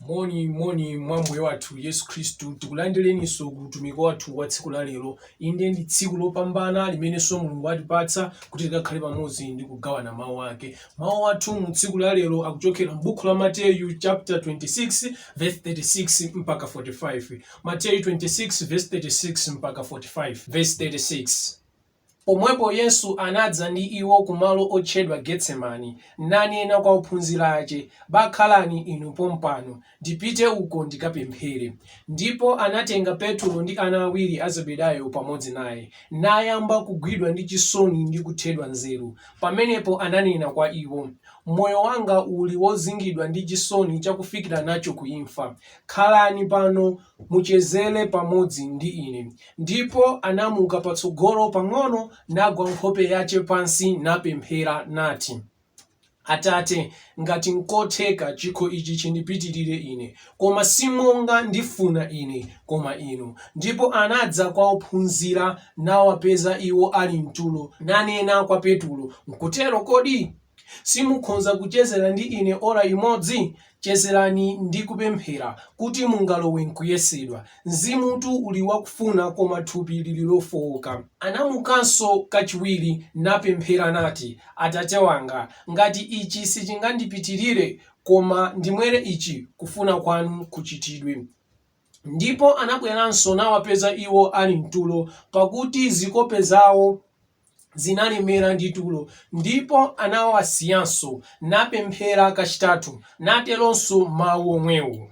moni moni mwa mbuye wathu yesu khristu tikulandireninso ku utumiki wathu wa tsiku la lero inde ndi tsiku lopambana limenenso mulungu atipatsa kuti tikakhale pamodzi ndi kugawana mawu ake mawu athu mu tsiku la lero akuchokera m'buku la mateyu chapter 26 verse 36 mpaka 45 mateyu 26 verse 36 mpaka 45 verse 36 Pomwepo Yesu anadza ndi iwo ku malo otchedwa Getsemani, nanena kwa ophunzira ace, Bakhalani inu pompano, ndipite uko ndikapemphere. Ndipo anatenga Petulo ndi ana awiri a Zebedayo pamodzi naye, nayamba kugwidwa ndi cisoni ndi kuthedwa nzeru, pamenepo ananena kwa iwo, Moyo wanga uli wozingidwa ndi cisoni cakufikira naco kuimfa, khalani pano, mucezere pamodzi ndi Ine. Ndipo anamuka patsogolo pang'ono, nagwa nkhope yace pansi, napemphera, nati, Atate, ngati nkotheka, cikho ici cindipitirire ine, koma si monga ndifuna ine, koma Inu. Ndipo anadza kwa ophunzira, nawapeza iwo ali m'tulo, nanena kwa Petulo, Nkutero kodi? simukhonza kucezera ndi Ine ora imodzi? Chezerani ndi kupemphera kuti mungalowe m'kuyesedwa. Mzimutu uli wakufuna, koma thupi lili lofooka. Anamukanso kachiwiri, napemphera, nati, Atate wanga, ngati ichi sichingandipitirire, koma ndimwere ichi, kufuna kwanu kuchitidwe. Ndipo anabweranso, nawapeza iwo ali m'tulo, pakuti zikope zawo zinalemera ndi tulo, ndipo anawasiyanso, napemphera kachitatu, nateronso mawu omwewo.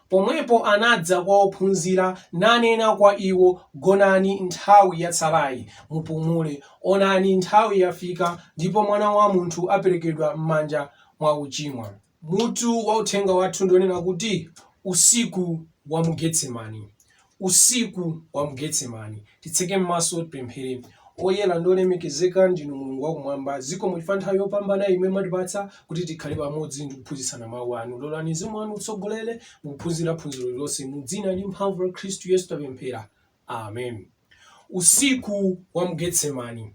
Pomwepo anadza kwa ophunzira, nanena kwa iwo, Gonani nthawi yatsalayi, mupumule, onani nthawi yafika, ndipo Mwana wa munthu aperekedwa m'manja mwa ochimwa. Mutu wa uthenga wathu ndi wonena kuti, Usiku wa mu Getsemani. Usiku wa mu Getsemani. Titseke m'maso, tipemphere. Oyera ndi olemekezeka ndinu Mulungu wa kumwamba, zikomo chifukwa nthawi yopambana imwe mwatipatsa kuti tikhale pamodzi ndi kuphunzitsana mawu anu. Lolani Mzimu wanu utsogolere mu kuphunzira phunziro lililonse. Mu dzina ndi mphamvu la Khristu Yesu tapemphera. Amen. Usiku wa mu Getsemani.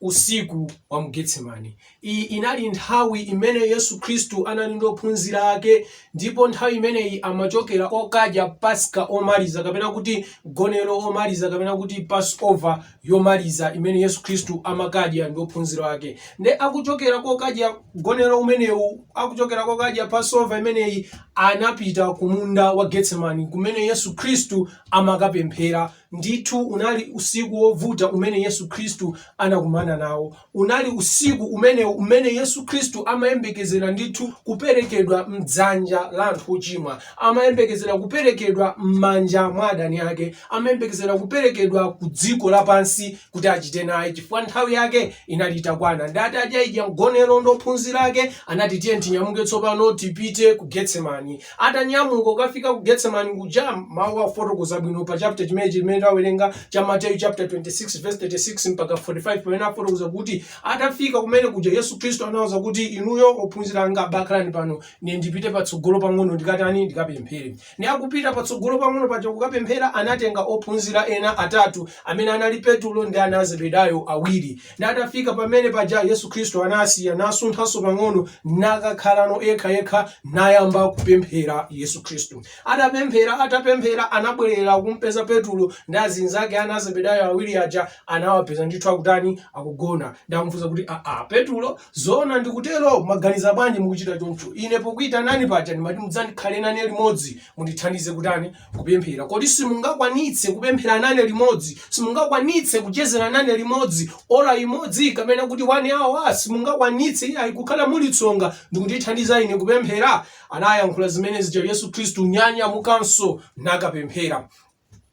Usiku wa mu Getsemani. Iyi inali nthawi imene Yesu Khristu anali ndi ophunzira ake ndipo nthawi imeneyi amachokera kokadya Paska omaliza kapena kuti mgonero omaliza kapena kuti Passover yomaliza imene Yesu Khristu amakadya ndi ophunzira ake. Nde akuchokera kokadya mgonero umenewu, akuchokera kokadya Passover imeneyi anapita ku munda wa Getsemani kumene Yesu Khristu amakapemphera. Ndithu, unali usiku wovuta umene Yesu Khristu anakumana nawo. Unali usiku umenewo umene Yesu Khristu amayembekezera ndithu kuperekedwa m'dzanja la anthu ochimwa. Amayembekezera kuperekedwa m'manja mwa adani ake. Amayembekezera kuperekedwa ku dziko lapansi kuti achite naye chifukwa nthawi yake inali itakwana. Ndi atadyaidya mgonero ndi ophunzira ake, anati, Tiyeni tinyamuke tsopano tipite ku Getsemani. Atanyamuka kukafika ku Getsemani kuja, mawu afotokoza bwino pa chapter chimenechi chimene tawerenga cha Mateyu chapter 26 verse 36 mpaka 45 pamene afotokoza kuti atafika kumene kuja Yesu Khristu anawauza kuti inuyo ophunzira anga bakhalani pano ne ndipite patsogolo pang'ono ndikatani ndikapemphere. Ne akupita patsogolo pang'ono paja kukapemphera anatenga ophunzira ena atatu amene anali Petulo ndi ana a Zebedayo awiri. Ndi atafika pamene paja Yesu Khristu anawasiya, nasunthanso pang'ono, nakakhalano yekhayekha, nayamba kupemphera Yesu Khristu. Atapemphera, atapemphera, anabwerera kumpeza Petulo ndi azinzake ana a Zebedayo awiri aja, anawapeza ndithu akutani, akugona. Ndamufunsa kuti, Aa, Petulo, zoona ndikutero? Mwaganiza bwanji mukuchita choncho? Ine pokuitanani paja ndimati mudzandikhale nane limodzi, mundithandize kutani? kupemphera? Kodi simungakwanitse kupemphera nane limodzi? Simungakwanitse kuchezera nane limodzi ora imodzi kapena kuti one hour? Simungakwanitse iyayi kukhala muli tsonga ndikundithandiza ine kupemphera? Anayankhula zimene zija Yesu Khristu nanyamukanso nakapemphera.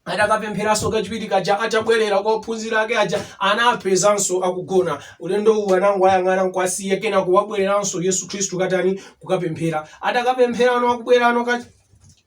Atakapempheranso kachiwiri kaja atabwerera kwa ophunzira ake aja anapezanso akugona. Ulendo uwu anangowayang'ana n'kuwasiya kenako wabwereranso Yesu Khristu kukatani kukapemphera. Atakapempherano akubwerano ka-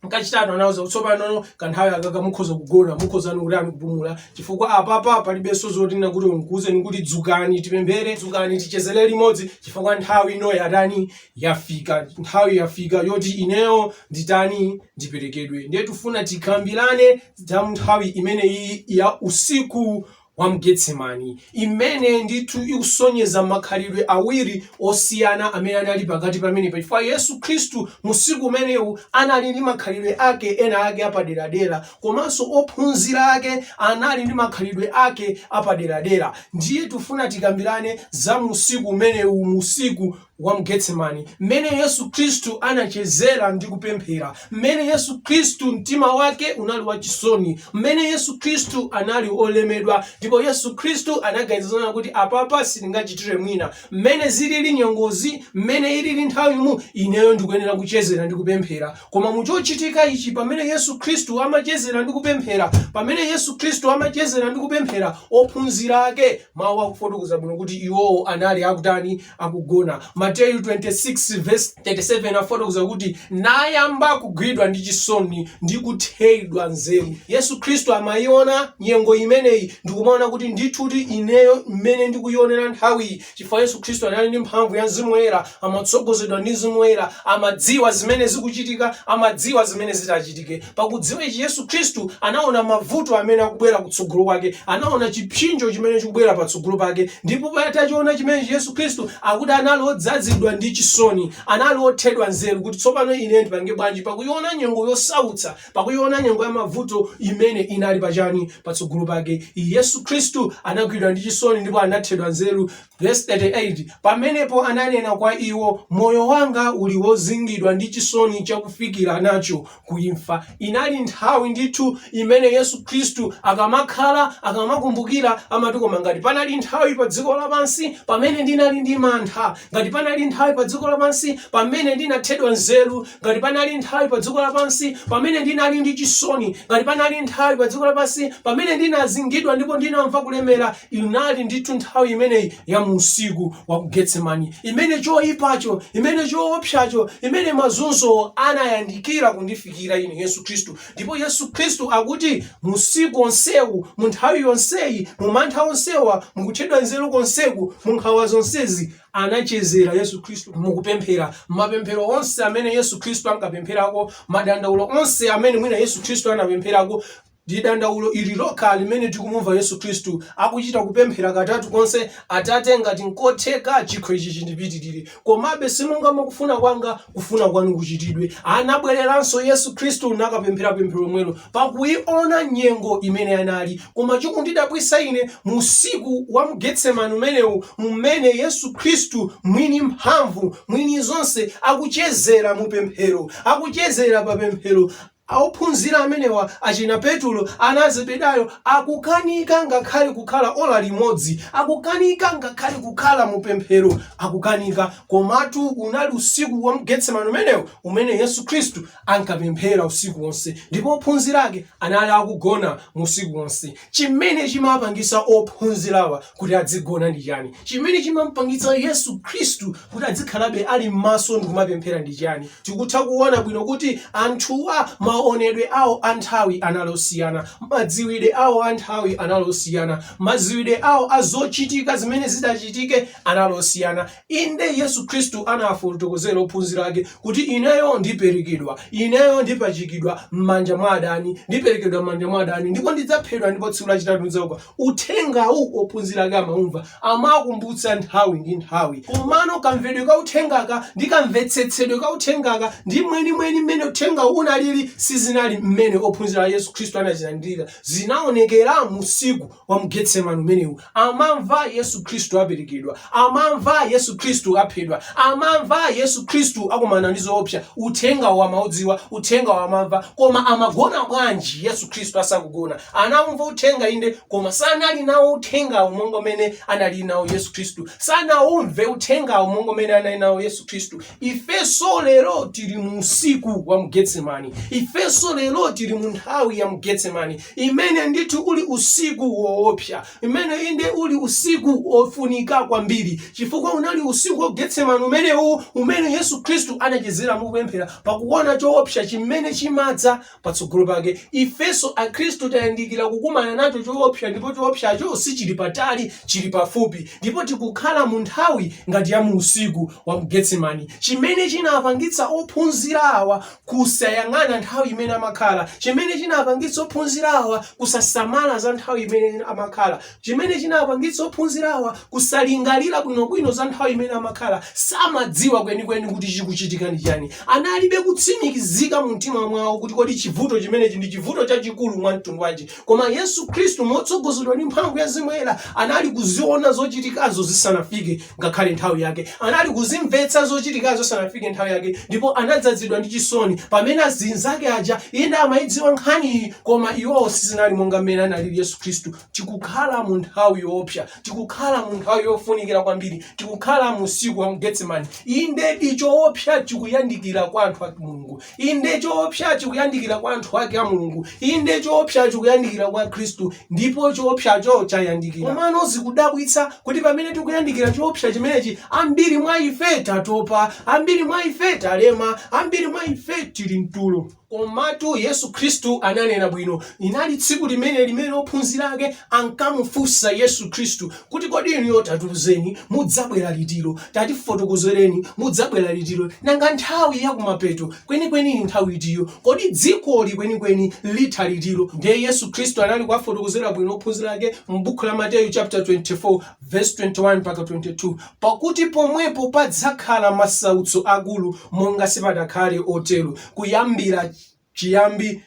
Kachitatu anawauza kuti tsopano kanthawi akaka mukhoza kugona, mukhoza ndikutani kupumula chifukwa apapa palibenso zotina kuti ndikuuzeni kuti dzukani tipemphere, dzukani tichezere limodzi chifukwa nthawi ino yatani yafika, nthawi yafika yoti ineyo nditani ndiperekedwe. Ndiye tufuna tikambirane za nthawi imeneyiyi ya usiku wa m'Getsemani, imene ndithu ikusonyeza makhalidwe awiri osiyana amene anali pakati pamenepa, chifukwa Yesu Khristu mu usiku umenewu anali ndi makhalidwe ake ena ake apaderadera, komanso ophunzira ake anali ndi makhalidwe ake apaderadera. Ndiye tufuna tikambirane za mu usiku umenewu, mu usiku. wa m'Getsemani, mmene Yesu Khristu anachezera ndi kupemphera, mmene Yesu Khristu mtima wake unali wachisoni, mmene Yesu Khristu anali olemedwa, ndipo Yesu Khristu anaganiza zonena kuti apapa sindingachitire mwina, mmene zilili nyengozi, mmene ilili nthawimu, ineyo ndikuyenera kuchezera ndi kupemphera. Koma mu chochitika ichi, pamene Yesu Khristu amachezera ndi kupemphera, pamene Yesu Khristu amachezera ndi kupemphera, ophunzira ake, mawu akufotokoza bwino kuti iwowo anali akutani? akugona. Mateyu 26 vs 37 afotokoza kuti nayamba kugwidwa ndi chisoni ndi kuthedwa nzeru. Yesu Khristu amayiona nyengo imeneyi ndikumaona kuti ndithudi ineyo mmene ndikuyionera nthawiyi chifukwa Yesu Khristu anali ndi mphamvu ya Mzimu Woyera, amatsogozedwa ndi Mzimu Woyera, amadziwa zimene zikuchitika, amadziwa zimene zitachitike. Pakudziwa ichi Yesu Khristu anaona mavuto amene akubwera kutsogolo kwake, anaona chipsinjo chimene chikubwera patsogolo pake, ndipo atachiona chimenechi Yesu Khristu akuti anali odzazidwa ndi chisoni, anali othedwa nzeru kuti tsopano ine ndipange bwanji pakuiona nyengo yosautsa, pakuiona nyengo ya mavuto imene inali pachani, patsogolo pake. Yesu Khristu anagwidwa ndi chisoni ndipo anathedwa nzeru, vesi 38, pamenepo ananena kwa iwo, moyo wanga uli wozingidwa ndi chisoni chakufikira nacho, ku imfa. Inali nthawi ndithu imene Yesu Khristu akamakhala, akamakumbukira, amati koma ngati panali nthawi pa dziko lapansi pamene ndinali ndi mantha, ngati panali nthawi pa dziko lapansi pamene ndinathedwa nzeru, ngati panali nthawi pa dziko lapansi pamene ndinali ndi chisoni, ngati panali nthawi pa dziko lapansi pamene ndinazingidwa ndipo ndinamva kulemera, inali ndithu nthawi imeneyi ya mu usiku wa ku getsemani imene choyipacho imene choopsacho imene mazunzo anayandikira kundifikira ine yesu khristu ndipo yesu khristu akuti mu usiku onsewu mu nthawi yonseyi mu mantha onsewa mukuthedwa nzeru konseku mu nkhawa zonsezi anachezera yesu khristu mukupemphera mapemphero onse amene yesu khristu ankapempherako madandaulo onse amene mwina yesu khristu anapempherako Ndi dandaulo ili lokha limene tikumumva Yesu Khristu akuchita kupemphera katatu konse, Atate, ngati nkotheka, chikho ichi chindipitirire, komabe si monga mwa kufuna kwanga, kufuna kwanu kuchitidwe. Anabwereranso Yesu Khristu nakapemphera pemphero lomwelo, pakuiona nyengo imene anali. Koma chikundidabwitsa ine, mu usiku wa mu Getsemani umenewu, m'mene Yesu Khristu, mwini mphamvu, mwini zonse, akuchezera mu pemphero, akuchezera pa pemphero, a Ophunzira amenewa, achina Petulo, ana a Zebedayo, akukanika ngakhale kukhala ola limodzi, akukanika ngakhale kukhala mu pemphero, akukanika. Komatu unali usiku wa mu Getsemane umenewo umene Yesu Khristu ankapemphera usiku wonse, ndipo ophunzira Ake anali akugona mu usiku wonse. Chimene chimapangitsa ophunzirawa kuti adzigona ndi chani? Chimene chimamupangitsa Yesu Khristu kuti adzikhalabe ali mmaso ndi kumapemphera ndi chani? Tikutha kuona bwino kuti anthuwa maonedwe awo a nthawi anali osiyana, madziwidwe awo a nthawi anali osiyana, madziwidwe awo a zochitika zimene zitachitike anali osiyana. Inde, Yesu Khristu anawafotokozera ophunzira ake kuti, Ineyo ndiperekedwa, ineyo ndipachikidwa m'manja mwa adani, ndiperekedwa m'manja mwa adani, ndipo ndidzaphedwa, ndipo tsiku lachitatu ndidzauka. Uthengawu ophunzira ake amaumva, amawakumbutsa nthawi ndi nthawi. Komano kamvedwe ka uthengaka ndi kamvetsetsedwe ka uthengaka ndi mwenimweni mmene uthengawu unalili sizinali mmene ophunzira a Yesu Khristu anazilandirira. Zinaonekera mu usiku wa mu Getsemani umenewu, amamva Yesu Khristu aperekedwa, amamva Yesu Khristu aphedwa, amamva Yesu Khristu akumana ndi zoopsa. Uthengawu amaudziwa, uthengawu amamva, koma amagona bwanji Yesu Khristu asakugona? Anaumva uthenga inde, koma sanali nawo uthengawu monga mmene anali nawo Yesu Khristu, sanaumve uthengawu monga mmene anali nawo Yesu Khristu. Ifenso lero tili mu usiku wa mu Getsemani, ifenso lero tili mu nthawi ya mu Getsemani, imene ndithu uli usiku woopsa, imene inde uli usiku wofunika kwambiri, chifukwa unali usiku wa Getsemani umenewu umene Yesu Khristu anachezera mukupemphera pakuona choopsa chimene chimadza patsogolo pake. Ifenso akhristu tayandikira kukumana nacho choopsa ndipo choopsacho sichili patali, chili pafupi ndipo tikukhala mu nthawi ngati ya mu usiku wa mu Getsemani. Chimene chinapangitsa ophunzira awa kusayang'ana nthawi imene amakhala, chimene chinapangitsa ophunzirawa kusasamala za nthawi imene amakhala, chimene chinapangitsa ophunzirawa kusalingalira bwinobwino za nthawi imene amakhala, samadziwa kwenikweni kuti chikuchitika ndi chani. Analibe kutsimikizika mu mtima mwawo kuti kodi chivuto chimenechi ndi chivuto chachikulu mwa mtundu wanji. Koma Yesu Khristu motsogozedwa ndi mphamvu ya Mzimu Woyera anali kuziona zochitikazo zisanafike. ngakhale nthawi yake. Anali kuzimvetsa zochitikazo isanafike nthawi yake ndipo anadzazidwa ndi chisoni pamene azinzake aja inde amayidziwa nkhaniyi koma iwowo sizinali monga mmene analili Yesu Khristu. Tikukhala mu nthawi yoopsa, tikukhala mu nthawi yofunikira kwambiri, tikukhala mu usiku wa Getsemani. Indedi choopsa chikuyandikira kwa anthu a Mulungu. Inde, choopsa chikuyandikira kwa anthu ake a Mulungu. Inde, choopsa chikuyandikira kwa akhristu, ndipo choopsacho chayandikira. Komano zikudabwitsa kuti pamene tikuyandikira choopsa chimenechi, ambiri mwa ife tatopa, ambiri mwa ife talema, ambiri mwa ife tili mtulo. Komatu Yesu Khristu ananena bwino. Inali tsiku limene limene ophunzira ake ankamufunsa Yesu Khristu Kuti kodi inuyo tatiuzeni mudzabwera litiro, tatifotokozereni mudzabwera litiro, nanga nthawi ya kumapeto kwenikweni ndi nthawi itiyo, kodi dzikoli kwenikweni litha litiro? Ndiye Yesu Khristu anali kuwafotokozera bwino ophunzira ake mu bukhu la Mateyu chaputa 24 vesi 21 mpaka 22, Pakuti pomwepo padzakhala masautso akulu monga sipadakhale otero kuyambira chiyambi,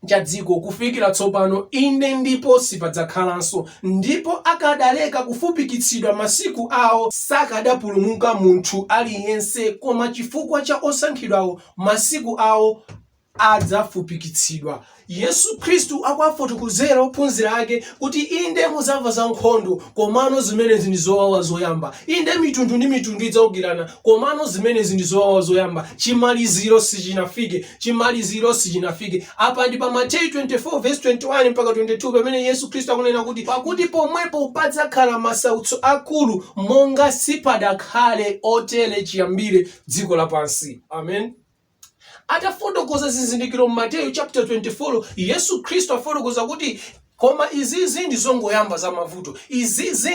cha dziko kufikira tsopano, inde, ndipo sipadzakhalanso, ndipo akadaleka kufupikitsidwa masiku awo, sakadapulumuka munthu aliyense, koma chifukwa cha osankhidwawo masiku awo adzafupikitsidwa. Yesu Khristu akuwafotokozera ophunzira ake kuti inde mudzamva za nkhondo, komano zimenezi ndi zowawa zoyamba, inde mitundu ndi mitundu idzaukirana, komano zimenezi ndi zowawa zoyamba, chimaliziro sichinafike. chimaliziro sichinafike apa ndi pa mateyu 24:21 mpaka 22 pamene yesu khristu akunena kuti pakuti pomwepo padzakhala masautso akulu monga sipadakhale otere chiyambire dziko lapansi amen atafotokoza zizindikiro m'mateyu chapter 24 yesu khristu afotokoza kuti Koma izizi ndi zongoyamba za mavuto. Izizi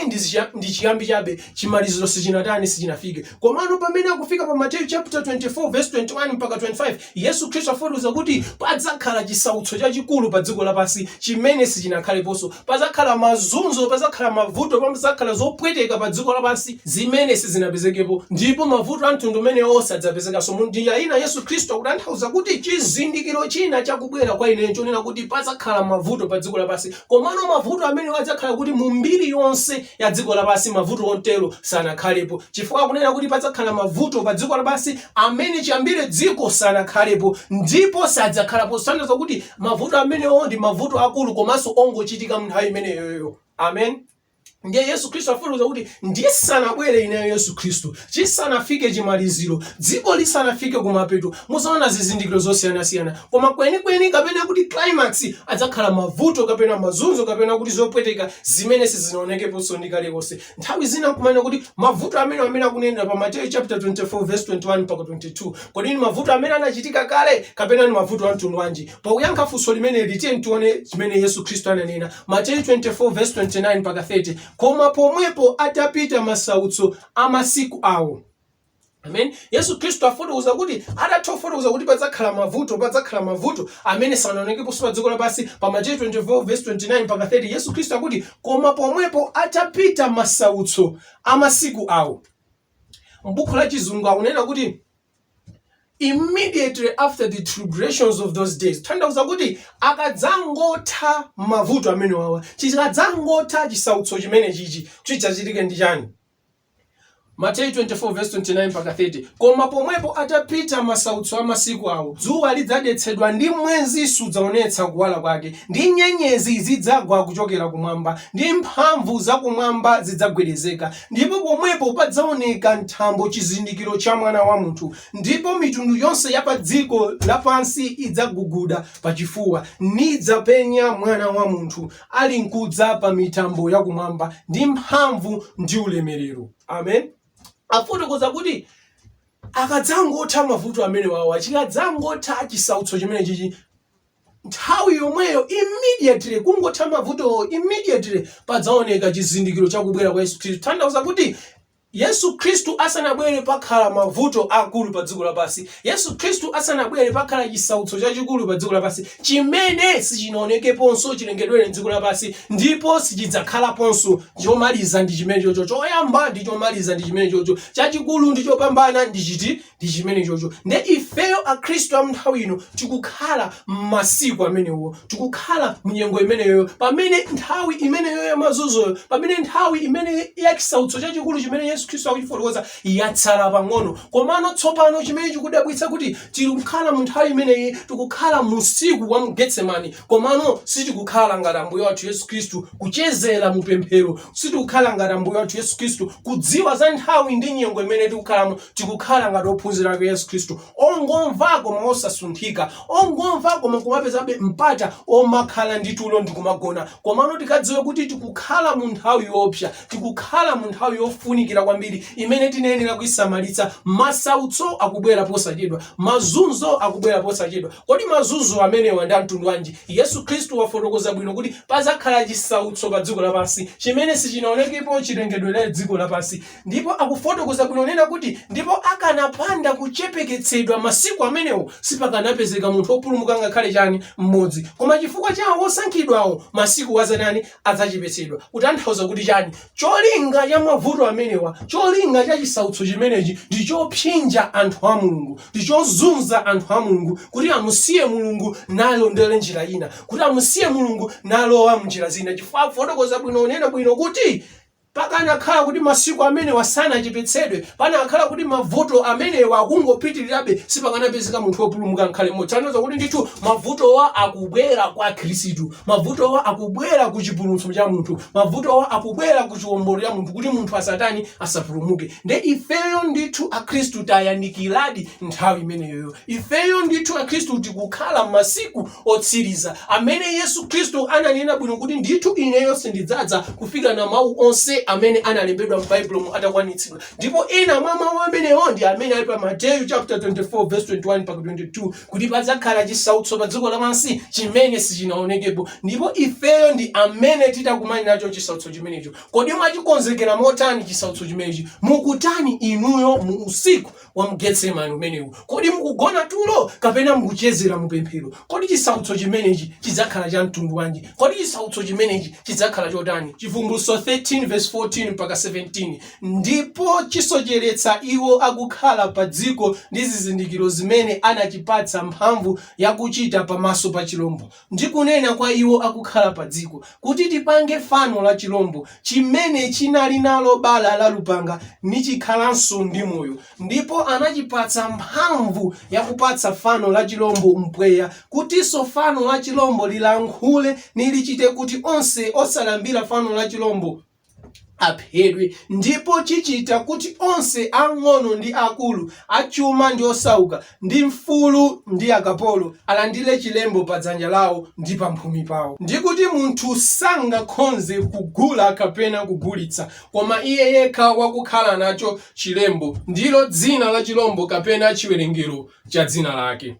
ndi chiyambi chabe. Chimaliziro sichinatani, sichinafike. Komano pamene akufika pa Mateyu chaputala 24 vesi 21 mpaka 25, Yesu Khristu afotokoza kuti padzakhala chisautso chachikulu pa dziko lapansi chimene sichinakhaleponso. Padzakhala mazunzo, padzakhala mavuto, padzakhala zopweteka pa dziko lapansi zimene sizinapezekepo. Ndipo mavuto a mtundu umenewo sadzapezekanso. Mu njira ina Yesu Khristu akutanthauza kuti chizindikiro china cha kubwera kwa ine chonena kuti padzakhala mavuto pa dziko lapansi komano mavuto amenewo adzakhala kuti mu mbiri yonse ya dziko lapansi mavuto ontero sanakhalepo chifukwa akunena kuti padzakhala mavuto pa dziko lapansi amene chiyambire dziko sanakhalepo ndipo sadzakhalapo kusonyeza kuti mavuto amenewo ndi mavuto akulu komanso ongochitika mu nthawi imeneyoyo amen ndiye yesu khristu afotokoza kuti ndisanabwere ineyo yesu khristu chisanafike chimaliziro dziko lisanafike kumapeto muzaona zizindikiro zosiyanasiyana koma kwenikweni kapena kuti climax adzakhala mavuto kapena mazunzo kapena kuti zopweteka zimene sizinaonekeponso ndi kale konse nthawi zina kumanena kuti mavuto amene amene akunenera pa mateyu chapter 24 verse 21 mpaka 22 kodi ni mavuto amene anachitika kale kapena ni mavuto a mtundu wanji Pa kuyankha funso limeneli, tiyeni tione zimene Yesu Khristu ananena. Mateyu 24 vesi 29 mpaka 30, Koma pomwepo atapita masautso a masiku awo. Amen. Yesu Khristu afotokoza kuti atatha kufotokoza kuti padzakhala mavuto, padzakhala mavuto amene sanaonekeponso pa dziko lapansi pa Mateyu 24 vesi 29 mpaka 30. Yesu Khristu akuti koma pomwepo atapita masautso a masiku awo. M'buku la Chizungu akunena kuti immediately after the tribulations of those days tanthauza kuti akadzangotha mavuto amene wawa chikadzangotha chisautso chimene chichi chidzachitike ndi chani mateyu 24 verse 29 mpaka 30 koma pomwepo atapita masautso a masiku awo dzuwa lidzadetsedwa ndi mwezi sudzaonetsa kuwala kwake ndi nyenyezi zidzagwa kuchokera kumwamba ndi mphamvu zakumwamba zidzagwedezeka Ndipo pomwepo padzaoneka m'thambo chizindikiro cha Mwana wa munthu, ndipo mitundu yonse ya padziko lapansi idzaguguda pachifuwa, nidzapenya Mwana wa munthu alinkudza pa mitambo ya kumwamba ndi mphamvu ndi ulemerero. Amen. Afotokoza kuti akadzangotha mavuto amenewawa, chikadzangotha chisautso chimenechichi, nthawi yomweyo immediately kungotha mavutowo immediately padzaoneka chizindikiro cha kubwera kwa yesu khristu tanthauza kuti yesu khristu asanabwere pakhala mavuto akulu pa dziko lapansi yesu khristu asanabwere pakhala chisautso chachikulu pa dziko lapansi chimene sichinaonekeponso chilengedwere dziko lapansi ndipo sichidzakhalaponso chomaliza ndi chimene chocho choyamba ndi chomaliza ndi chimene chocho chachikulu ndi chopambana ndi chiti Ndi chimenechocho. Ndiye ifeyo, Akhristu a m'nthawi ino, tikukhala m'masiku amenewo. Tikukhala mu nyengo imeneyoyo, pamene nthawi imeneyo ya mazunzoyo, pamene nthawi imene ya chisautso chachikulu chimene Yesu Khristu akuchifotokoza yatsala pang'ono. Komano tsopano chimene chikudabwitsa kuti tikukhala mu nthawi imeneyi, tikukhala mu usiku wa mu Getsemane, komano sitikukhala ngati Ambuye wathu Yesu Khristu, kuchezera mu pemphero. Sitikukhala ngati Ambuye wathu Yesu Khristu, kudziwa za nthawi ndi nyengo imene tikukhalamo. tikukhala ngati ophunzira ake Yesu Khristu ongomva koma osasunthika ongomva koma kumapezabe mpata omakhala ndi tulo ndi kumagona komano tikadziwa kuti tikukhala mu nthawi yoopsa tikukhala mu nthawi yofunikira kwambiri imene tinayenera kuisamalitsa masautso akubwera posachedwa mazunzo akubwera posachedwa kodi mazunzo amenewa ndi amtundu wanji yesu khristu wafotokoza bwino kuti pazakhala chisautso pa dziko lapansi chimene sichinaonekepo chilengedwere dziko lapansi Ndipo akufotokoza bwino kunena kuti, Ndipo akanapanda kuchepeketsedwa masiku amenewo, sipakanapezeka munthu opulumuka ngakhale chani, m'modzi. Koma chifukwa cha awo osankhidwawo, masiku adzatani, adzachepetsedwa. Kutanthauza kuti chani? Cholinga cha mavuto amenewa, cholinga cha chisautso chimenechi ndi chopsinja anthu a Mulungu, ndi chozunza anthu a Mulungu kuti amusiye Mulungu nalondole njira ina, kuti amusiye Mulungu nalowa m'njira zina. Chifukwa akufotokoza bwino kunena bwino kuti. Pakanakhala kuti masiku amenewa sanachepetsedwe, pakanakhala kuti mavuto amenewa akungopitirirabe, sipakanapezeka munthu wopulumuka nkhale mmodzi. Tanthauza kuti ndithu mavutowa akubwera kwa Akhristu. Mavutowa akubwera ku chipulumutso cha munthu. Mavutowa akubwera ku chiwombolo cha munthu kuti munthu asatani? Asapulumuke. Nde ifeyo ndithu Akhristu tayandikiradi nthawi imeneyoyo. Ifeyo ndithu Akhristu tikukhala masiku otsiriza, amene Yesu Khristu ananena bwino kuti ndithu ineyo sindidzadza kufikirana mawu onse amene analembedwa m'Baibulomu atakwanitsidwa. Ndipo ena mwa mawu amenewo ndi amene ali pa Mateyu chapter 24 verse 21 mpaka 22 kuti padzakhala chisautso pa dziko lapansi chimene sichinaonekepo ndipo ifeyo ndi amene titakumane nacho chisautso chimenecho. Kodi mwachikonzekera motani chisautso chimenechi? Mukutani inuyo mu usiku wa mu Getsemane umenewu? Kodi mukugona tulo kapena mukuchezera mu pemphero? Kodi chisautso chimenechi chidzakhala cha mtundu wanji? Kodi chisautso chimenechi chidzakhala chotani? Chivumbulutso 13 verse 14 mpaka 17, ndipo chisocheretsa iwo akukhala pa dziko ndi zizindikiro zimene anachipatsa mphamvu yakuchita pamaso pa chilombo. ndi kunena kwa iwo akukhala padziko, kuti tipange fano la chilombo, chimene chinali nalo bala la lupanga, nichikhalanso ndi moyo. Ndipo anachipatsa mphamvu yakupatsa fano la chilombo mpweya, kutinso fano la chilombo lilankhule, nilichite kuti onse osalambira fano la chilombo, aphedwe, ndipo chichita kuti onse, ang'ono ndi akulu, achuma ndi osauka, ndi mfulu ndi akapolo, alandire chilembo pa dzanja lawo ndi pamphumi pawo, ndi kuti munthu sangakhonze kugula kapena kugulitsa, koma iye yekha wakukhala nacho chilembo, ndilo dzina la chilombo, kapena chiwerengero cha dzina lake.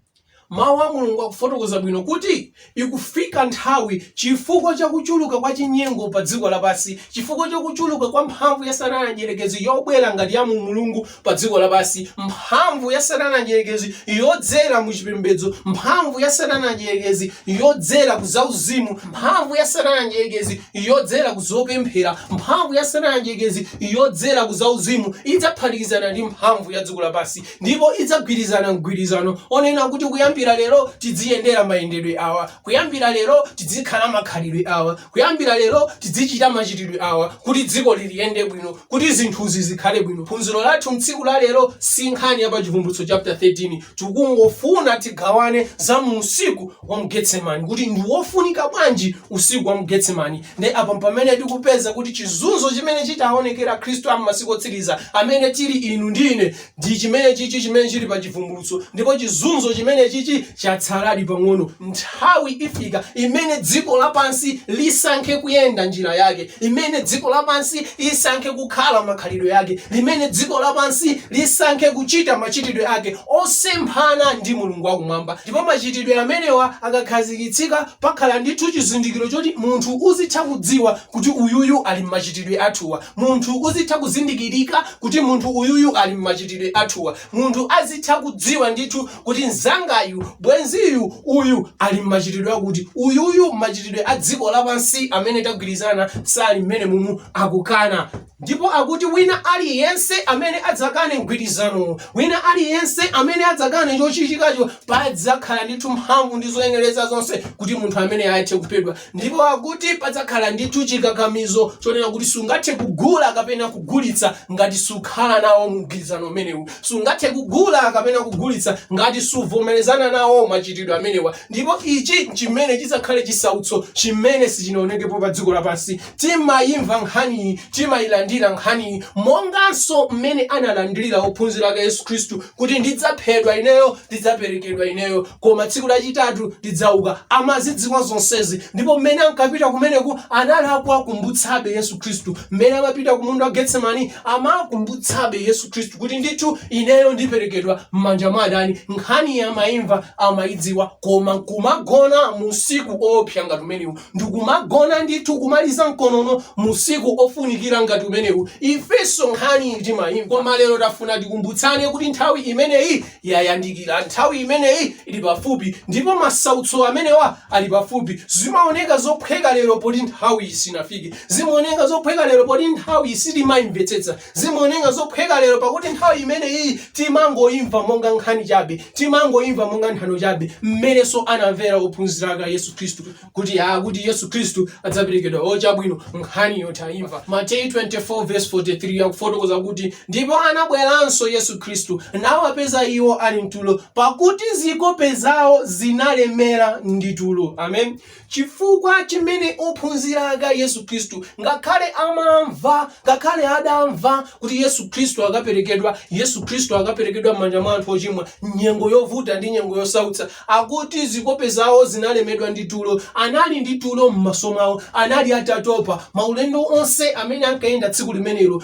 Mawu a Mulungu akufotokoza bwino kuti, Ikufika nthawi, chifukwa cha kuchuluka kwa chinyengo padziko lapansi, chifukwa cha kuchuluka kwa mphamvu ya Satana Mdyerekezi yobwera ngati ya mu Mulungu padziko lapansi, mphamvu ya Satana Mdyerekezi yodzera mu chipembedzo, mphamvu ya Satana Mdyerekezi yodzera ku zauzimu, mphamvu ya Satana Mdyerekezi yodzera ku zopemphera, mphamvu ya Satana Mdyerekezi yodzera ku zauzimu idzaphatikizana ndi mphamvu ya dziko lapansi. ndipo idzagwirizana mgwirizano onena kuti kuyambira lero tidziyendera mayendedwe awa kuyambira lero tidzikhala makhalidwe awa kuyambira lero tidzichita machitidwe awa kuti dzikoli liyende bwino kuti zinthuzi zikhale bwino phunziro lathu mtsiku la lero si nkhani ya pa chivumbulutso chapter 13 tikungofuna tigawane za mu usiku wa mu getsemani kuti ndi wofunika bwanji usiku wa mu getsemani nde apa pamene tikupeza kuti chizunzo chimene chitaonekere akhristu am'masiku otsiriza amene tili inu ndi ine ndi chimene chichi chimene chili pa chivumbulutso ndipo chizunzo chimene chichi chatsaladi pang'ono nthawi ifika imene dziko lapansi lisankhe kuyenda njira yake imene dziko lapansi lisankhe kukhala makhalidwe ake imene dziko lapansi lisankhe kuchita machitidwe ake osemphana ndi Mulungu wa Kumwamba, ndipo machitidwe amenewa akakhazikitsika pakhala ndithu chizindikiro choti munthu uzitha kudziwa kuti uyuyu ali mmachitidwe athuwa, munthu uzitha kuzindikirika kuti munthu uyuyu ali mmachitidwe athuwa, munthu azitha kudziwa ndithu kuti mzangayu, bwenziyu, uyu ali mmachitidwe akuti, uyuyu mmachitidwe a dziko lapansi amene tagwirizana sali mmenemumu, akukana. Ndipo akuti wina aliyense amene adzakane mgwirizano, wina aliyense amene adzakane chochitikacho, padzakhala ndithu mphamvu ndi zoyenereza zonse kuti munthu ameneyo athe kuphedwa. Ndipo akuti padzakhala ndithu chikakamizo chonena kuti sungathe kugula kapena kugulitsa ngati sukhala nawo mu mgwirizano umenewu. Sungathe kugula kapena kugulitsa ngati suvomerezana nawo machitidwe amenewa. Ndipo ichi chimene chidzakhale chisautso chimene sichinaonekepo pa dziko lapansi. Timaimva nkhaniyi, timailandira nkhaniyi, monganso mmene analandirira ophunzira ake a Yesu Khristu kuti ndidzaphedwa ineyo, ndidzaperekedwa ineyo, koma tsiku lachitatu ndidzauka. Amazidziwa zonsezi ndipo mmene ankapita kumeneku anali akuwakumbutsabe Yesu Khristu. Mmene amapita ku munda wa Getsemani amakumbutsabe Yesu Khristu kuti ndithu ineyo ndiperekedwa m'manja mwa adani. Nkhaniyi amaimva, amaidziwa, koma kumagona mu usiku oopsa ngati umenewu. ndikumagona ndithu kumaliza mkonono musiku ofunikira ngati umenewu ifenso nkhaniyi timayimva koma lero tafuna tikumbutsane kuti nthawi imeneyi yayandikira nthawi imeneyi ili pafupi ndipo masautso amenewa ali pafupi zimaoneka zophweka lero poti nthawiyi sinafike zimaoneka zophweka lero poti nthawiyi sitimayimvetsetsa Zimaoneka zophweka lero, pakuti nthawi imeneyi timangoimva monga nkhani chabe, timangoimva monga nthano chabe, mmenenso anamvera ophunzira ake a Yesu Khristu, kuti ah, kuti Yesu Khristu adzaperekedwa. O chabwino, nkhaniyo taimva. Mateyu 24 verse 43 akufotokoza kuti, ndipo anabweranso Yesu Khristu, nawapeza iwo ali mtulo, pakuti zikope zawo zinalemera ndi tulo. Amen. Chifukwa chimene ophunzira ake a Yesu Khristu, ngakhale amamva, ngakhale adamva kuti Yesu Khristu akaperekedwa, Yesu Khristu akaperekedwa m'manja mwa anthu ochimwa, nyengo yovuta ndi nyengo yosautsa, akuti zikope zawo zinalemedwa ndi tulo. Anali ndi tulo m'maso mwawo. Anali atatopa. Maulendo onse amene ankayenda tsiku limenelo,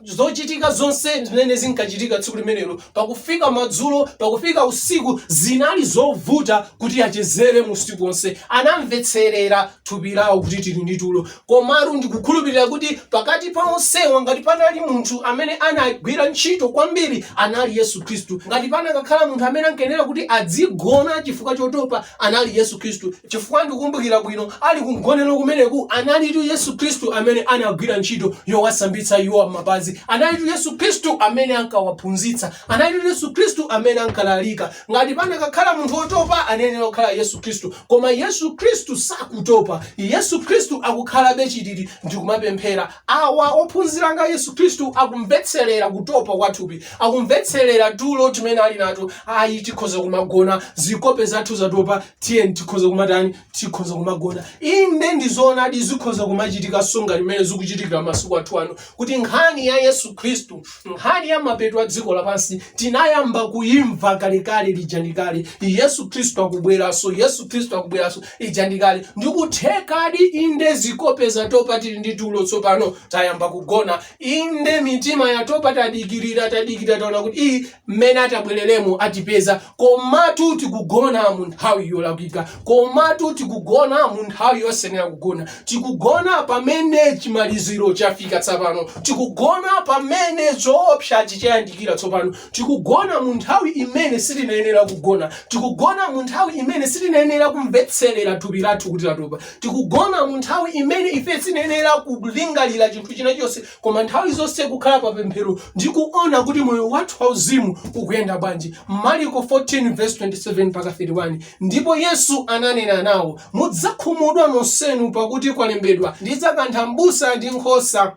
zochitika zonse zimene zinkachitika tsiku limenelo pakufika madzulo pakufika usiku zinali zovuta kuti achezere usiku onse anamvetserera thupi lawo kuti tili ndi tulo komatu ndikukhulupirira kuti pakati pa onsewa ngati panali munthu amene anagwira ntchito kwambiri anali yesu khristu ngati panakakhala munthu amene ankayenera kuti adzigona chifukwa chotopa anali yesu khristu chifukwa ndikumbukira bwino ali kumgonero kumeneku analitu yesu khristu amene anagwira ntchito yowasambitsa iwo m'mapazi analitu yesu khristu amene ankawaphunzitsa analitu yesu khristu amene ankalalika ngati panakakhala munthu wotopa anayenera kukhala yesu khristu koma yesu khristu sakutopa yesu khristu akukhalabe chititi ndikumapemphera Awa, ophunzira anga Yesu Khristu, akumvetserera kutopa kwa thupi, akumvetserera tulo timene ali nato. Ayi, tikhoza kumagona, zikope zathu zatopa, tiyeni tikhoza kumatani, tikhoza kumagona. Inde ndi zoonadi zikhoza kumachitika songa limene zikuchitikira masiku athu ano, kuti nkhani ya Yesu Khristu, nkhani ya mapeto a dziko lapansi, tinayamba kuyimva kalekale lija ndi kale. Yesu Khristu akubweranso, Yesu Khristu akubweranso. ija ndi kale ndikuthekadi inde zikope zatopa tili ndi tulo tsopano tayamba kugona inde mitima yatopa tadikirira tadikirira taona kuti ii mmene atabwereremo atipeza komatu tikugona mu nthawi yolakwika komatu tikugona mu nthawi yosenera kugona tikugona pamene chimaliziro chafika tsopano tikugona pamene zoopsa chichayandikira tsopano Tikugona mu nthawi imene sitinayenera kugona. Tikugona mu nthawi imene sitinayenera kumvetserera thupi lathu kuti latopa. Tikugona mu nthawi imene ife sitinayenera kulingalira chinthu china chonse, koma nthawi zonse kukhala pa pemphero ndi kuona kuti moyo wathu wauzimu ukuyenda bwanji. Mariko 14 vesi 27 mpaka 31 Ndipo Yesu ananena nawo, Mudzakhumudwa nonsenu, pakuti kwalembedwa, Ndidzakantha mbusa ndi nkhosa.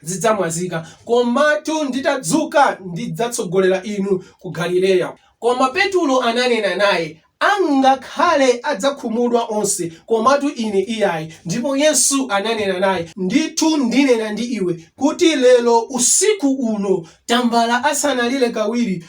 zidzamwazika. Komatu nditadzuka ndidzatsogolera inu ku Galileya. Koma Petulo ananena naye, Angakhale adzakhumudwa onse, komatu ine iyayi. Ndipo Yesu ananena naye, Ndithu ndinena ndi iwe, kuti lero, usiku uno, tambala asanalire kawiri,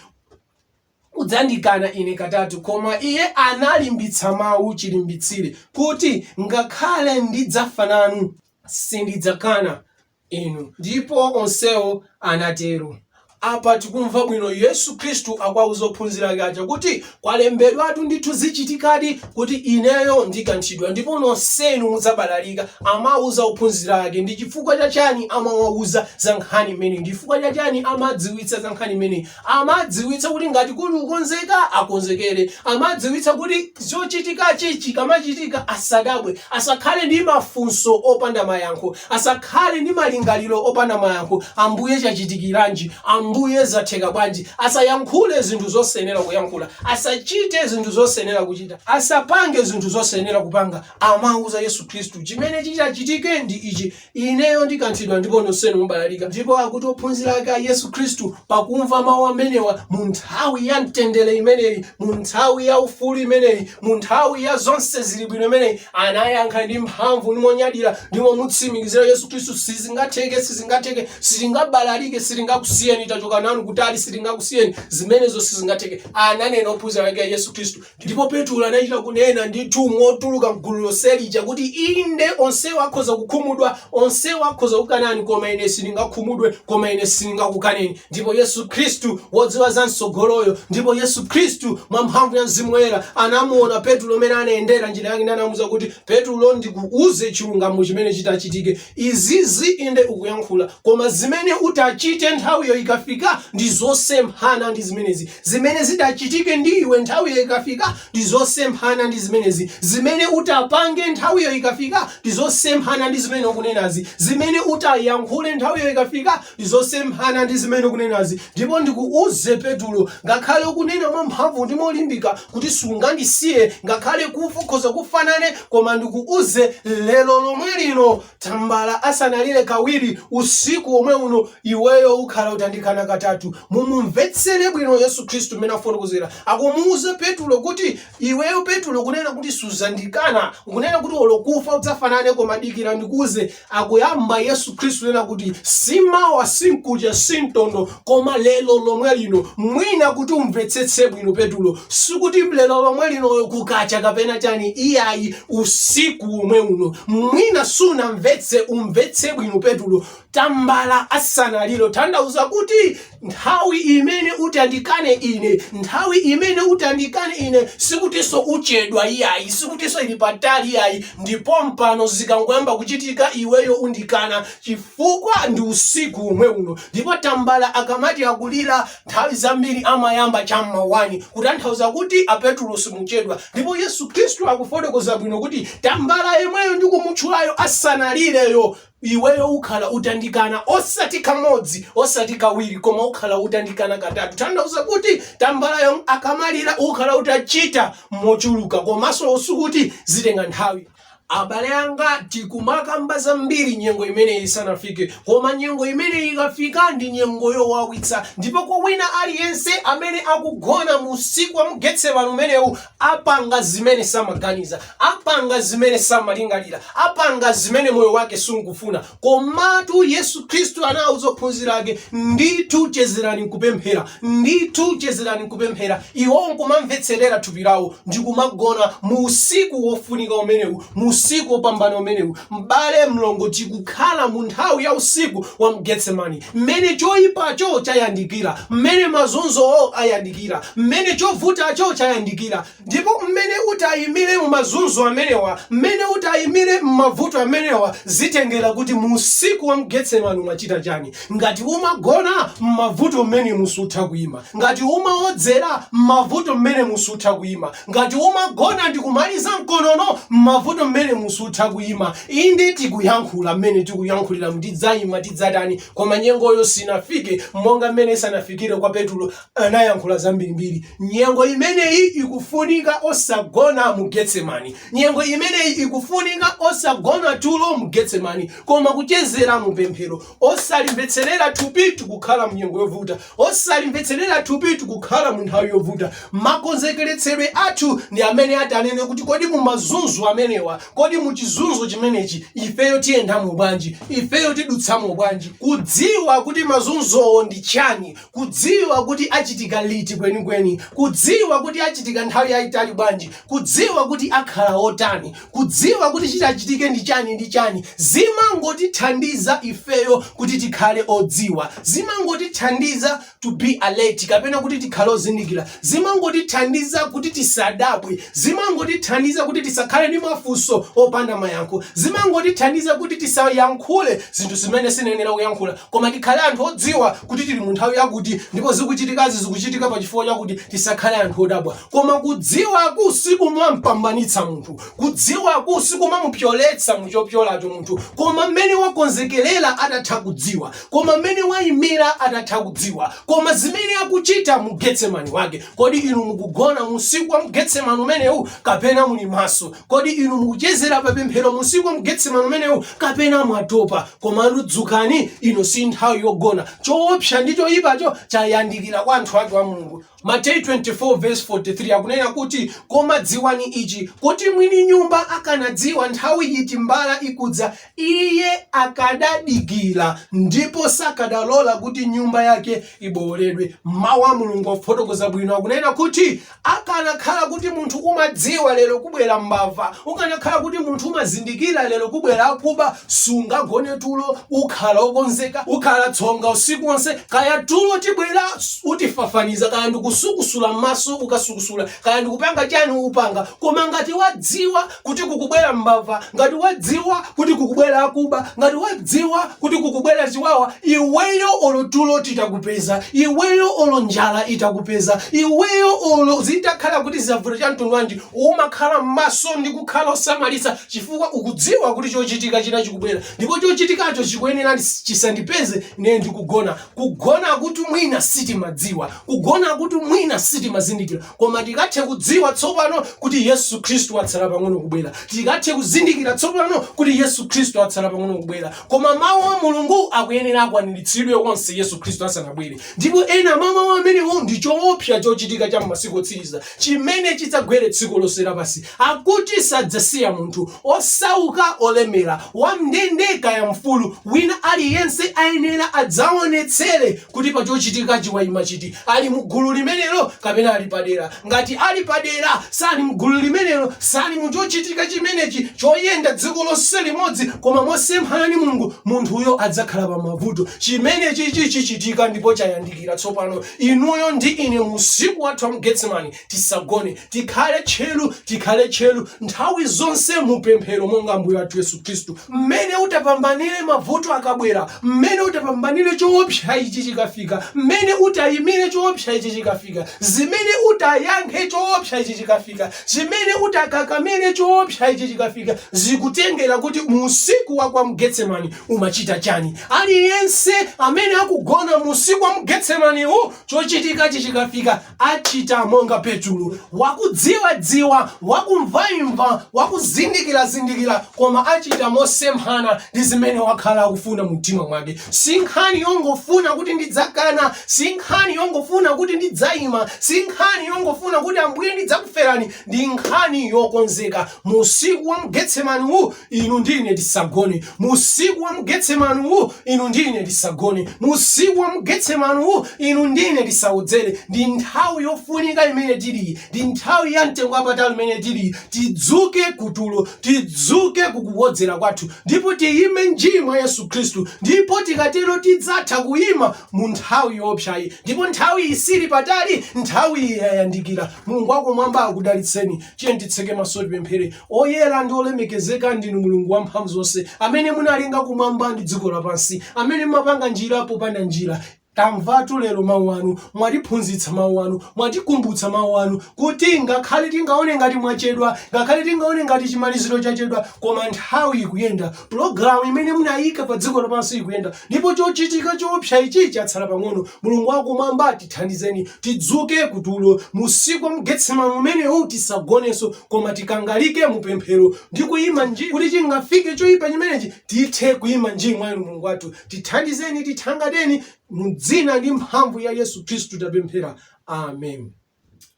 udzandikana Ine katatu. Koma Iye analimbitsa Mawu chilimbitsire, kuti, Ngakhale ndidzafa nanu, sindidzakana Inu. Ndipo onsewo anatero. Apa tikumva bwino Yesu Khristu akuwauza ophunzira ake aja kuti, Kwalembedwatu ndithu, zichitikadi, kuti Ineyo ndikanthidwa, ndipo nonsenu mudzabalalika. Amauza ophunzira ake. Ndi chifukwa cha chiyani amawauza za nkhani imeneyi? Ndi chifukwa cha chiyani amadziwitsa za nkhani imeneyi? Amadziwitsa kuti ngati kuli kukonzeka, akonzekere. Amadziwitsa kuti chochitikachi chikamachitika asadabwe, asakhale ndi mafunso opanda mayankho, asakhale ndi malingaliro opanda mayankho, Ambuye chachitikiranji? Ambuye zatheka bwanji? Asayankhule zinthu zosenera kuyankhula, asachite zinthu zosenera kuchita, asapange zinthu zosenera kupanga. Amauza Yesu Khristu, Chimene chitachitike ndi ichi. Ineyo ndikanthidwa ndipo nonsenu mubalalika. Ndipo akuti ophunzira ake a Yesu Khristu, pakumva mawu amenewa, mu nthawi ya mtendere imeneyi, mu nthawi ya ufulu imeneyi, mu nthawi ya zonse zili bwino imeneyi, anayankha ndi mphamvu ndi monyadira ndi momutsimikizira Yesu Khristu, sizingatheke, sizingatheke, sitingabalalike, sitingakusiyeni, tachoka nanu kutali, sitingakusiyeni, zimenezo sizingatheke, ananena ophunzira ake a Yesu Khristu. Ndipo Petulo anachita kunena ndithu motuluka m'gulu lonse lija kuti, Inde, onsewa akhoza kukhumudwa, onsewa akhoza kukukanani, koma ine sindingakhumudwe, koma ine sindingakukaneni. Ndipo Yesu Khristu, wodziwa za m'tsogoloyo, ndipo Yesu Khristu, mwa mphamvu ya Mzimu Woyera, anamuona Petulo mmene anayendera njira yake ndi anamuuza kuti, Petulo, ndikuuze chilungamo chimene chitachitike. Izizi inde ukuyankhula, koma zimene utachite nthawiyo ikafika ndi zosemphana ndi zimenezi. Zimene zitachitike ndi iwe nthawiyo ikafika ndi zosemphana ndi zimenezi. Zimene utapange nthawiyo ikafika ndi zosemphana ndi zimene ukunenazi. Zimene utayankhule nthawiyo ikafika ndi zosemphana ndi zimene ukunenazi. Ndipo ndikuuze Petulo, ngakhale ukunena mwamphamvu ndi molimbika kuti sungandisiye, ngakhale kufa ukhoza kufa nane, koma ndikuuze lero lomwe lino, Tambala asanalire kawiri usiku womwe uno, iweyo ukhala utandikana katatu. Mumumvetsere bwino Yesu Khristu mmene akufotokozera. Akumuuza Petulo kuti, Iweyo Petulo ukunena kuti sudzandikana. Ukunena kuti olo kufa udzafa nane koma dikira ndikuuze. Akuyamba Yesu Khristu kunena kuti, Si mawa, si mkucha, si mtondo, koma lero lomwe lino mwina kuti umvetsetse bwino petulo sikuti lero lomwe linoyo kukacha kapena chani iyayi usiku omwe uno mwina sunamvetse umvetse bwino petulo tambala asanalire tanthauza kuti nthawi imene utandikane ine nthawi imene utandikane ine sikutinso uchedwa iyayi sikutinso ili patali iyayi ndipo pompano zikangoyamba kuchitika iweyo undikana chifukwa ndi usiku womwe uno ndipo tambala akamati akulira nthawi zambiri amayamba cha m'ma 1 kutanthauza kuti apetulo simuchedwa ndipo yesu khristu akufotokoza bwino kuti tambala yemweyo ndikumutchulayo asanalireyo iweyo ukhala utandikana osati kamodzi osati kawiri koma ukhala utandikana katatu tanthauza kuti tambalayo akamalira ukhala utachita mochuluka komanso sikuti zitenga nthawi Abale anga tikumakamba zambiri nyengo imeneyi isanafike, koma nyengo imeneyi ikafika ndi nyengo yowawitsa. Ndipo kwa wina aliyense amene akugona mu usiku wa mu Getsemane umenewu, apanga zimene samaganiza, apanga zimene samalingalira, apanga zimene moyo wake sukufuna. Komatu Yesu Kristu anauza ophunzira ake, Ndithu chezerani nkupemphera, ndithu chezerani nkupemphera, iwo nkumamvetserera thupi lawo ndi kumagona. Mu usiku wofunika umenewu, mu usiku wopambana umenewu, m'bale, mlongo, tikukhala mu nthawi ya usiku wa mu Getsemani, m'mene choipacho chayandikira, m'mene mazunzowo ayandikira, m'mene chovutacho chayandikira. Ndipo mmene uti ayimire mu mazunzo amenewa, mmene uti ayimire mmavuto amenewa, zitengera kuti mu usiku wa mgetsemane umachita chani. Ngati umagona, mmavuto mmenemu sutha kuyima. Ngati umaodzera, mmavuto mmenemu sutha kuyima. Ngati umagona ndi kumaliza nkonono, mmavuto mmenemu sutha kuyima. Inde tikuyankhula mmene tikuyankhuliramu, ndidzayima, tidzatani, koma nyengoyo sinafike monga mmene isanafikire kwa Petulo, anayankhula zambirimbiri nyengo imeneyi ikufunika osagona mu getsemani nyengo imeneyi ikufunika osagona tulo mu getsemani koma kuchezera mu pemphero osalimvetserera thupi tikukhala mu nyengo yovuta osalimvetserera thupi tikukhala mu nthawi yovuta makonzekeretsedwe athu ndi amene atanene kuti kodi mu mazunzo amenewa kodi mu chizunzo chimenechi ifeyo tiyendamo bwanji ifeyo tidutsamo bwanji kudziwa kuti mazunzowo ndi chani kudziwa kuti achitika liti kwenikweni, kudziwa kuti achitika nthawi yayitali bwanji, kudziwa kuti akhala otani, kudziwa kuti chitachitike ndi chani ndi chani, zimangotithandiza ifeyo kuti tikhale odziwa, zimangotithandiza to be alert kapena kuti tikhale ozindikira. Zimangotithandiza kuti tisadabwe. Zimangotithandiza kuti tisakhale ndi mafunso opanda mayankho. Zimangotithandiza kuti tisayankhule zinthu zimene sitiyenera kuyankhula koma tikhale anthu odziwa kuti tili mu nthawi yakuti ndipo zikuchitikazi zikuchitika pa chifukwa chakuti. Tisakhale anthu odabwa. Koma kudziwaku sikumam'pambanitsa munthu. Kudziwaku sikumamupyoletsa mu chopyolacho munthu koma mmene wakonzekerera atatha kudziwa. Koma mmene waimira atatha kudziwa, koma zimene akuchita mu Getsemane wake. Kodi inu mukugona mu usiku wa mu Getsemane umenewu, kapena muli maso? Kodi inu mukuchezera pa pemphero mu usiku wa mu Getsemane umenewu, kapena mwatopa? Koma dzukani, ino si nthawi yogona. Choopsa ndi choipacho chayandikira kwa anthu ake a Mulungu. Mateyu 24 vs 43 akunena kuti, Koma dziwani ichi, kuti mwini nyumba akanadziwa nthawi iti mbala ikudza, iye akadadikira, ndipo sakadalola kuti nyumba yake ibowoledwe. Mawu a Mulungu akufotokoza bwino, akunena kuti, Akanakhala kuti munthu umadziwa lero kubwera mbava, ukanakhala kuti munthu umazindikira lero kubwera akuba, sungagone tulo ukhala okonzeka ukhala tsonga usiku wonse kaya tulo tibwera utifafaniza kaya ndikusukusula m'maso ukasukusula kaya ndikupanga chani upanga koma ngati wadziwa kuti kukubwera mbava ngati wadziwa kuti kukubwera akuba ngati wadziwa kuti kukubwera chiwawa iweyo olo tulo titakupeza iweyo olo njala itakupeza iweyo olo zitakhala kuti zavuta cha mtundu wanji umakhala m'maso ndi kukhala osamalitsa chifukwa ukudziwa kuti chochitika china chikubwera ndipo chochitikacho chikuyenera chisandipeze ine ndikugona. Kugona kuti mwina sitimadziwa, kugona kuti mwina sitimazindikira, koma tikathe kudziwa tsopano kuti Yesu Khristu atsala pang'ono kubwera. Tikathe kuzindikira tsopano kuti Yesu Khristu atsala pang'ono kubwera. Koma Mawu a Mulungu akuyenera akwaniritsidwe onse Yesu Khristu asanabwere. Ndipo ena mwa Mawu amenewo ndi choopsa chochitika cha m'masiku otsiriza chimene chidzagwere dziko lonse lapansi. Akuti sadzasiya munthu, osauka, olemera, wam'ndende kaya mfulu, wina aliyense ayenera adzaonetsere kuti pa chochitikachi waima chiti, ali mu gulu limenelo kapena ali padera. Ngati ali padera, sali m'gulu limenelo, sali mu chochitika chimenechi choyenda dziko lonse limodzi koma mosemphana ndi Mulungu, munthuyo adzakhala pa mavuto. Chimenechichi chichitika ndipo chayandikira tsopano, inuyo ndi ine mu usiku wathu wa mu Getsemane. tisagone tikhale tcheru tikhale tcheru nthawi zonse mupemphero monga ambuye wathu yesu khristu mmene utapambanire mavuto akabwera mmene utapambanire choopsa ichi chikafika mmene utayimire choopsa ichi chikafika zimene utayankhe choopsa ichi chikafika zimene utakakamire choopsa ichi chikafika zikutengera kuti mu usiku wa kwa mgetsemani umachita chani aliyense amene akugona mu usiku wa mgetsemaniwu chochitikachi chikafika Achita monga Petulo, wakudziwadziwa, wakumvaimva, wakuzindikilazindikila, koma achita mosemphana ndi zimene wakhala akufuna mu mtima mwake. Si nkhani yongofuna kuti ndidzakana, si nkhani yongofuna kuti ndidzaima, si nkhani yongofuna kuti Ambuye ndidzakufelani, ndi nkhani yokonzeka. Mu usiku wa mu Getsemani uwu, Inu ndi ine tisagone, mu usiku wa mu Getsemani uwu, inu ndi ine tisagone, mu usiku wa mu Getsemani uwu, inu ndi ine tisawodzere. Ndi nthawi yofunika imene tiliyi, ndi nthawi ya mtengo wapatali imene tiliyi. Tidzuke kutulo, tidzuke kukuwodzera kwathu, ndipo tiyime nji mwa Yesu Khristu, ndipo tikatero tidzatha kuyima mu nthawi yoopsayi. Ndipo nthawiyi sili patali, nthawi iyi yayandikira. Mulungu wakumwamba akudalitseni. Tiyeni titseke maso, tipemphere. Oyera ndi olemekezeka ndinu Mulungu wamphamvuzonse, amene munalenga kumwamba ndi dziko lapansi, amene mumapanga njira popanda njira. Tamvatu lero mawu anu, mwatiphunzitsa mawu anu, mwatikumbutsa mawu anu, kuti ngakhale tingaone ngati mwachedwa, ngakhale tingaone ngati chimaliziro chachedwa, koma nthawi ikuyenda, Pulogalamu imene munayika pa dziko lapansi ikuyenda, ndipo chochitika choopsa ichi chatsala pang'ono. Mulungu wa Kumwamba, tithandizeni tidzuke ku tulo, mu usiku wa mu Getsemane umenewu. Tisagonenso, koma tikangalike mu pemphero ndi kuyima nji, kuti chingafike choyipa chimenechi, tithe kuyima nji mwa Inu. Mulungu wathu, tithandizeni, tithangateni, mu dzina ndi mphamvu ya Yesu Khristu tapemphera. Amen.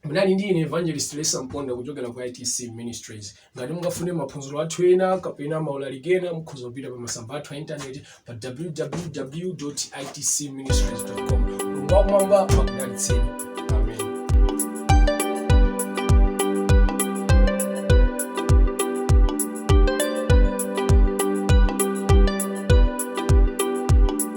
munali ndi ine evangelist lesa mponda kuchokera ku itc ministries ngati mungafune maphunziro athu ena kapena maulaliki ena mukhoza kupita pa masamba athu a intaneti pa www itc ministries com mulungu wakumwamba akudalitseni